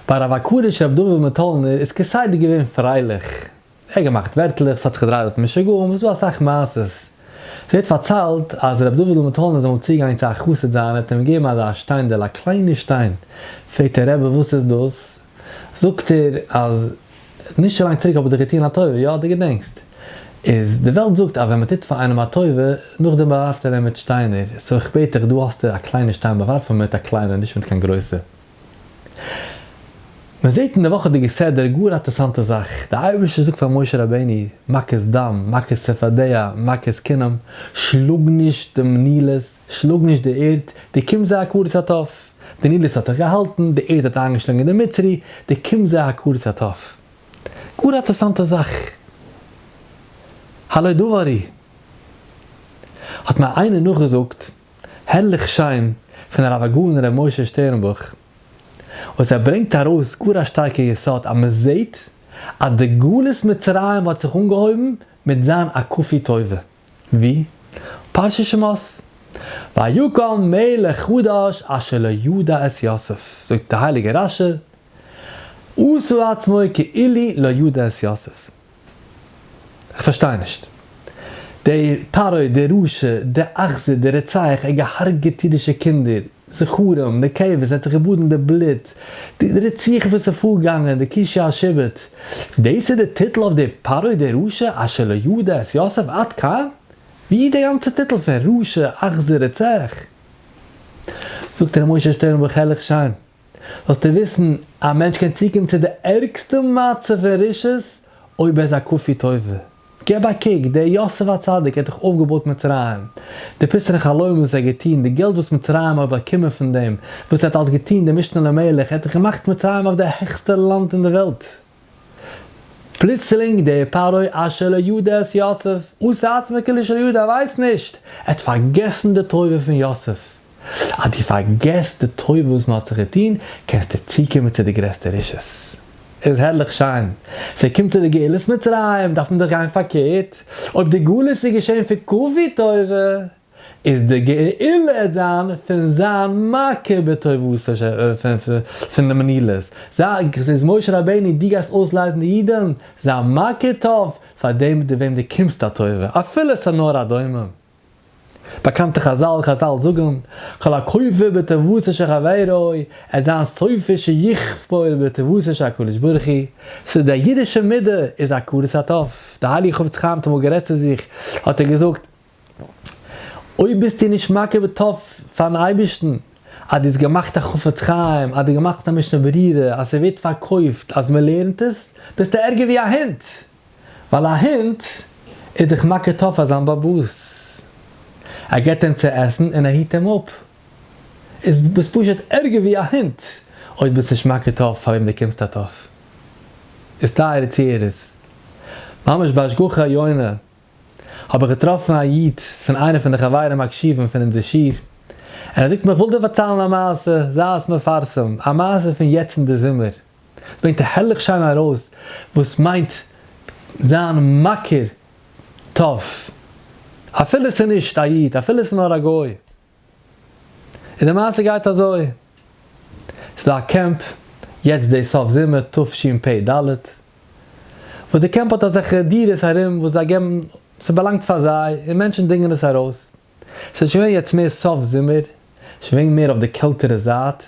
ביי רב הקדוש רבי דוד מטאלנער איז כסדר געווען פרייליך, ער האט געמאכט ווערטלעך, ס'האט זיך געדרייט דארט משוגעים, וואס דא אסאך מעשות. ס'ווערט פארציילט אז רבי דוד'ל מטאלנער איז אמאל צוגעגאנגען צו א חסיד זיינער, האט אים געגעבן אזא שטיינדעל, א קליינע שטיין, פרעגט אים, רבי וואס איז דאס? זאגט ער אז נישט צו לאנג צוריק האב איך דיר געטון א טובה, יא? דו געדענקסט? איז די וועלט זאגט אז ווען מ'טוט פאר איינעם א טובה, נאכדעם באווארפט ער אים מיט שטיינער, סאו איך בעט דיך, דא האסטו א קליינע שטיין, באווארף אים מיט א קליינע, נישט מיט קיין גרויסע. מען זעט אין די וואכעדיגע סדר גאר א טערסאנטע זאך, די אייבערשטער זאגט פאר משה רבינו, מכות דם, מכות צפרדע, מכות כינם, שלאג נישט דעם נילוס, שלאג נישט די ערד, די קום זיי הכרת הטוב, די נילוס האט דיך געהאלטן, די ערד האט איינגעשלונגען די מצרי, די קום זיי הכרת הטוב. גאר א טערסאנטע זאך. הלא דברי. האט מיר איינער נאכגעזאגט. הערליך שיין פון הרב הגאון ר' משה שטערנבוך, וואס ער ברענגט ארויס גאר א שטארקע יסוד אז מען זעהט אז די גלות מצרים האט זיך אנגעהויבן מיט זיין א כפוי טובה, ווי? פרשת שמות, ויקום מלך חדש אשר לא ידע את יוסף, זאגט די הייליגע רשי, עשה עצמו כאילו לא ידע את יוסף, כ'פארשטיי נישט. דער פרעה, דער רשע, דער אכזר, דער רוצח, ער האט געהארגעט אידישע קינדער, זכרים, נקבות, ער האט זיך געבאדן אין די בלוט, די רציחה וואס איז פארגאנגען, די כישוף השבט, דאס איז די טיטל אויף דער פרעה דער רשע אשר לא ידע את יוסף עד כאן? ווי איז די גאנצע טיטל פון רשע, אכזר, רוצח? זאגט ר' משה שטערנבוך הערליך שיין. זאלסטו וויסן, א מענטש קען צוקומען צו די ערגסטע מצב פון רשעות אויב ער איז א כפוי טובה. געב א קוק, דער יוסף הצדיק האט דאך אויפגעבויט מצרים, די פיסענע חלומות וואס ער האט געטון, די געלט וואס מצרים האט באקומען פון דעם וואס ער האט אלס געטון דעם משנה למלך, ער האט דאך געמאכט מצרים אויף די העכסטע לאנד אין די וועלט. פלוצלינג דער פרעה אשר לא ידע את יוסף, און ס'עצמי כאילו שלא ידע, ער ווייסט נישט, ער האט פארגעסן די טובה פון יוסף. אז דו פארגעסט די טובה וואס מען האט זיך געטון, קענסטו צוקומען צו די גרעסטע רשעות. איז הערליך שיין. ווען ער קומט צו די גאולת מצרים, דארף מען דאך גיין פארקערט, אויב די גלות איז געשען פון כפוי טובה, איז די גאולה דאן פון זיין מכה בטובותיו ש פון די מנילות, זאג, ס'איז משה רבינו דו גייסט אויסלייזן די אידן, זיין מכה טוב פאר דעם מיט וועם דו קומסט א טובה, אפילו ס'איז נאר א דומם. באקאנטע חזל, חזל זאגן, כל הכופר בטובותיו של חברו, עט זיין סופו שיכפור בטובותיו של הקדוש ברוך הוא, ס'איז די אידישע מידה איז הכרת הטוב, די הייליגע חפץ חיים האט אמאל גערעדט צו זיך, האט ער געזאגט, אויב ביסטו נישט מקריב את הטוב פארן אייבערשטן, אז דו האסט געמאכט א חפץ חיים, אז דו האסט געמאכט א משנה ברירה, אז ס'ווערט פארקויפט אז מ'לערנט עס, ביסטו ערגער ווי א הונט, ווייל א הונט איז דאך מקריב טוב פאר זיין באבוס, ער געבט אים צו עסן און ער היט אים אפ, איז ביסט פשוט ערגער ווי א הונט אויב ביסט נישט מקריב טוב פאר וועם דו קומסט א טוב. איז טייערע צוהערערס, ממש בהשגחה עליונה, האב איך געטראפן א איד פון איינע פון די חברים הקשובים פון אונזער שיעור, און ער זאגט מיר איך וויל דיר פארציילן א מעשה, זיי עס מפרסם, א מעשה פון יעצט אין די זומער, עס ברענגט הערליך שיין ארויס וואס מיינט זיין מכיר טוב, אפילו עס איז נישט א איד, אפילו עס איז נאר א גוי. און די מעשה גייט אזוי, ס'דא א קעמפ יעצט די סוף זומער תשפ ד, וואס די קעמפ האט אזעלכע דירות ארום וואס זיי געבן, ס'באלאנגט פאר זיי, און מענטשן דינגען עס ארויס, ס'איז שוין געווען יעצט מער סוף זומער, שוין געווען מער אויף די קעלטערע זייט,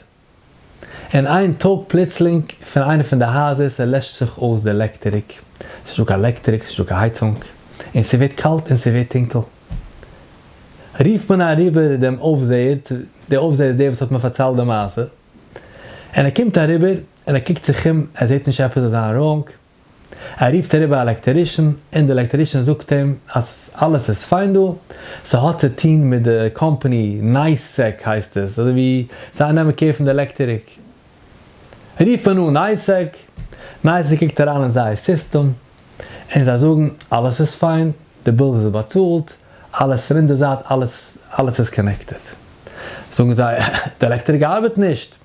און איין טאג פלוצלינג פון איינע פון די הייזער ס'לעשט זיך אויס די עלעקטעריק, ס'איז נישטא קיין עלעקטעריק, ס'נישטא קיין הייצונג, און ס'ווערט קאלט און ס'ווערט טונקל. רופט מען אריבער דעם אויפזעער, דער אויפזעער איז דער וואס האט מיר פארציילט די מעשה, און ער קומט אריבער און ער קוקט זיך אום, ער זעט נישט עפעס זיין ראונג, ער רופט אריבער א עלעקטערישן און די עלעקטערישן זאגט אים אז אלעס איז פיין דא, ס'האט צו טוהן מיט די קאמפאני נייסעק הייסט עס, אזוי ווי זיי נעמען קער פון די עלעקטעריק, רופט מען אן נייסעק, נייסעק קוקט אריין אין זייער סיסטעם און זיי זאגן אלעס איז פיין, די בילס איז באצאלט, אלעס פון אונזער זייט אלעס אלעס איז קאנעקטעד, זאגן זיי די עלעקטעריק ארבעט נישט,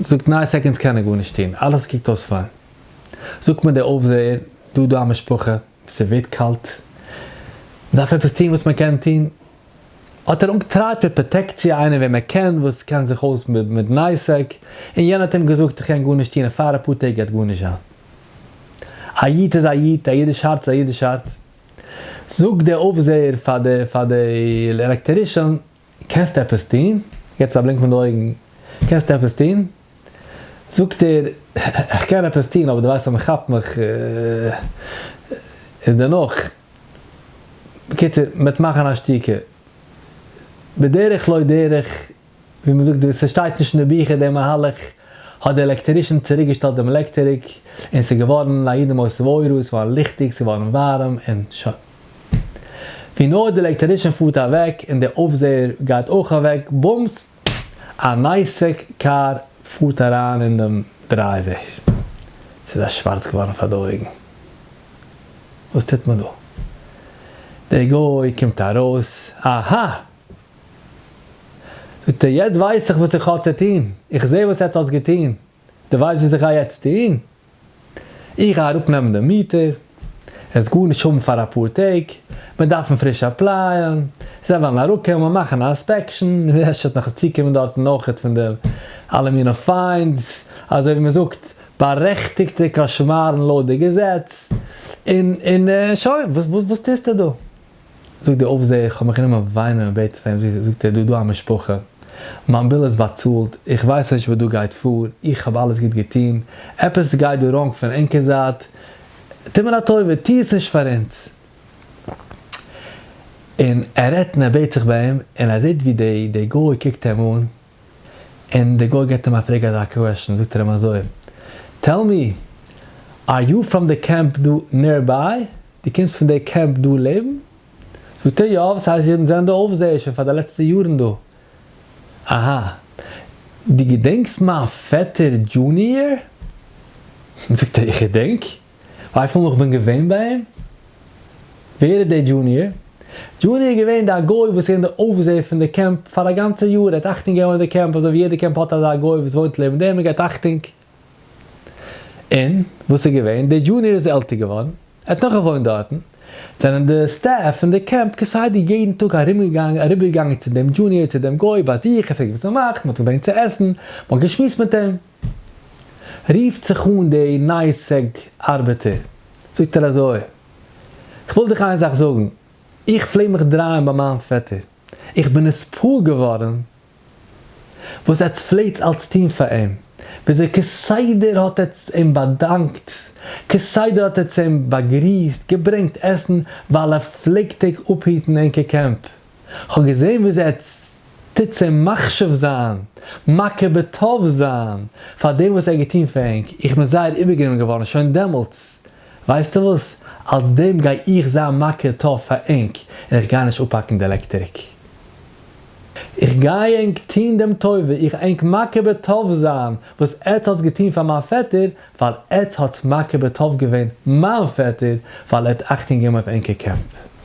זאגט ניין סעקאנדס קען ער גארנישט טון אלעס קוקט אויס פיין זאגט מיר דער אויפזעער דא דא א משפחה ס'ווערט קאלט מ'דארף עפעס טון וואס מען קען טון האט ער אנגטרייט מיט פראטעקציע איינער וועם ער קען וואס קען זיך אויס מיט נייסעק און יענער האט אים געזאגט איך קען גארנישט טון און פאר אפאר טעג גייט גארנישט זיין א איד איז א איד א אידיש הארץ איז א אידיש הארץ זאגט דער אויפזעער פאר די פאר די עלעקטערישאן קענסט עפעס טון? יעצט א בלינק מיט די אויגן, קענסט עפעס טון? זאגט ער, איך קען עפעס טון, אבער דו ווייסט אז מען כאפט מיך איז דערנאך, בקיצור, מען וועט מאכן א שתיקה. בדרך לא דרך, ווי מען זאגט, ס'שטייט נישט אין די ביכער דער מהלך, האט דער עלעקטערישן צוריק געשטעלט דעם עלעקטעריק, און ס'איז געווארן א יעדעם אויס וואוירוס, ס'איז געווארן ליכטיג, ס'איז געווארן ווארעם, און שוין. ווי נאר די עלעקטערישן פארט אוועק און די אויפזעער גייט אויך אוועק, בומס! א נייסעק קאר פארט אריין אין דעם דרייוועי. ס'איז זיי שווארץ געווארן פאר די אויגן. וואס טוט מען דא? דער גוי קומט ארויס, אהא! זאגט ער, יעצט ווייס איך וואס איך האב צו טון. איך זע וואס עטס האטס געטון. די ווייסט וואס איך גיי יעצט טוהן? איך גיי אראפ נעמען די מיטער, עס וועט גארנישט האבן פאר אפאר טעג, מיר דארפן פריש עפלייען, זיי וועלן אראפ קומען מאכן א אינספעקשן, אפשר וועט נאך צוקומען דארטן אויכעט פון די אלע מינע פיינס, אזוי ווי מען זאגט, בארעכטיגטע קאשמארן לויט די געזעץ, און און שוין, וואס טוהסטו דא? זאגט דער אויפזעער, איך האב מיך גענומען וויינען און בעטן פאר אים, זאגט ער, דא דא א משפחה, מיין ביל איז באצאלט, איך ווייס נישט וואס דא גייט פאר, איך האב אלעס גוט געטון, עפעס גייט דא ראנג פון ענקער זייט, טו מיר א טובה, טו עס נישט פאר אונז. און ער רעדט און ער בעט זיך ביי אים, און ער זעט ווי די גוי קוקט אים אן, און די גוי געט אים א פרעג אזא קוועשן זאגט ער אים אזוי טעל מי אר יו פראם די קעמפ דא נער ביי? דו קומסט פון די קעמפ דא לעבן? זאגט ער יא וואס הייסט אידן זענען די אויפזעער שוין פאר די לעצטע יארן דא אהא דו געדענקסט מיין פעטער דזשוניער? זאגט ער איך געדענק ווייסטו נאך כ'בין געווען ביי אים? ווער איז דער דזשוניער? דזשוניער איז געווען דער גוי וואס איז געווען דער אויפזעער פון די קעמפ פאר א גאנצע יאר, ער האט אכטונג געגעבן אויף די קעמפ אזוי ווי יעדע קעמפ האט אזא גוי וואס וואוינט לעבן דעם און געבט אכטונג. און וואס איז געווען? דער דזשוניער איז עלטער געווארן, ער האט נאך געוואוינט דארטן, זענען די סטעף פון די קעמפ כסדר יעדן טאג ארומגעגאנגען אריבערגעגאנגען צו דעם דזשוניער צו דעם גוי ביי זיך, געפרעגט וואס ער מאכט, מ'האט אים געברענגט צו עסן, מ'האט געשמועסט מיט אים. רופט זיך אן די נייעס סעג ארבעטער, זאגט ער אזוי, כ'וויל דיך איין זאך זאגן, איך פלעג מיך דרייען ביי מיין פעטער, איך בין נספעל געווארן וואס עטץ פלעגטס אלץ טון פאר אים, וויאזוי כסדר האט עטץ אים באדאנקט, כסדר האט עטץ אים באגריסט, געברענגט עסן, ווייל ער פלעגט טעג אפהיטן ענקער קעמפ. כ'האב געזען וויאזוי ער טוט זיי מחשיב זיין, מכיר בטוב זיין, פאר דעם וואס ער האט געטון פאר ענק, איך בין זייער איבערגענומען געווארן שוין דעמאלטס, ווייסטו וואס, אלס דעם גיי איך זיין מכיר טוב פאר ענק, און איך גיי נישט אפהאקן די עלעקטעריק. איך גיי ענק טון דעם טובה, איך גיי ענק מכיר בטוב זיין וואס עטס האטס געטון פאר מיין פעטער, ווייל עטס האטס מכיר בטוב געווען מיין פעטער, ווייל ער האט אכטונג געגעבן אויף ענקער קעמפ.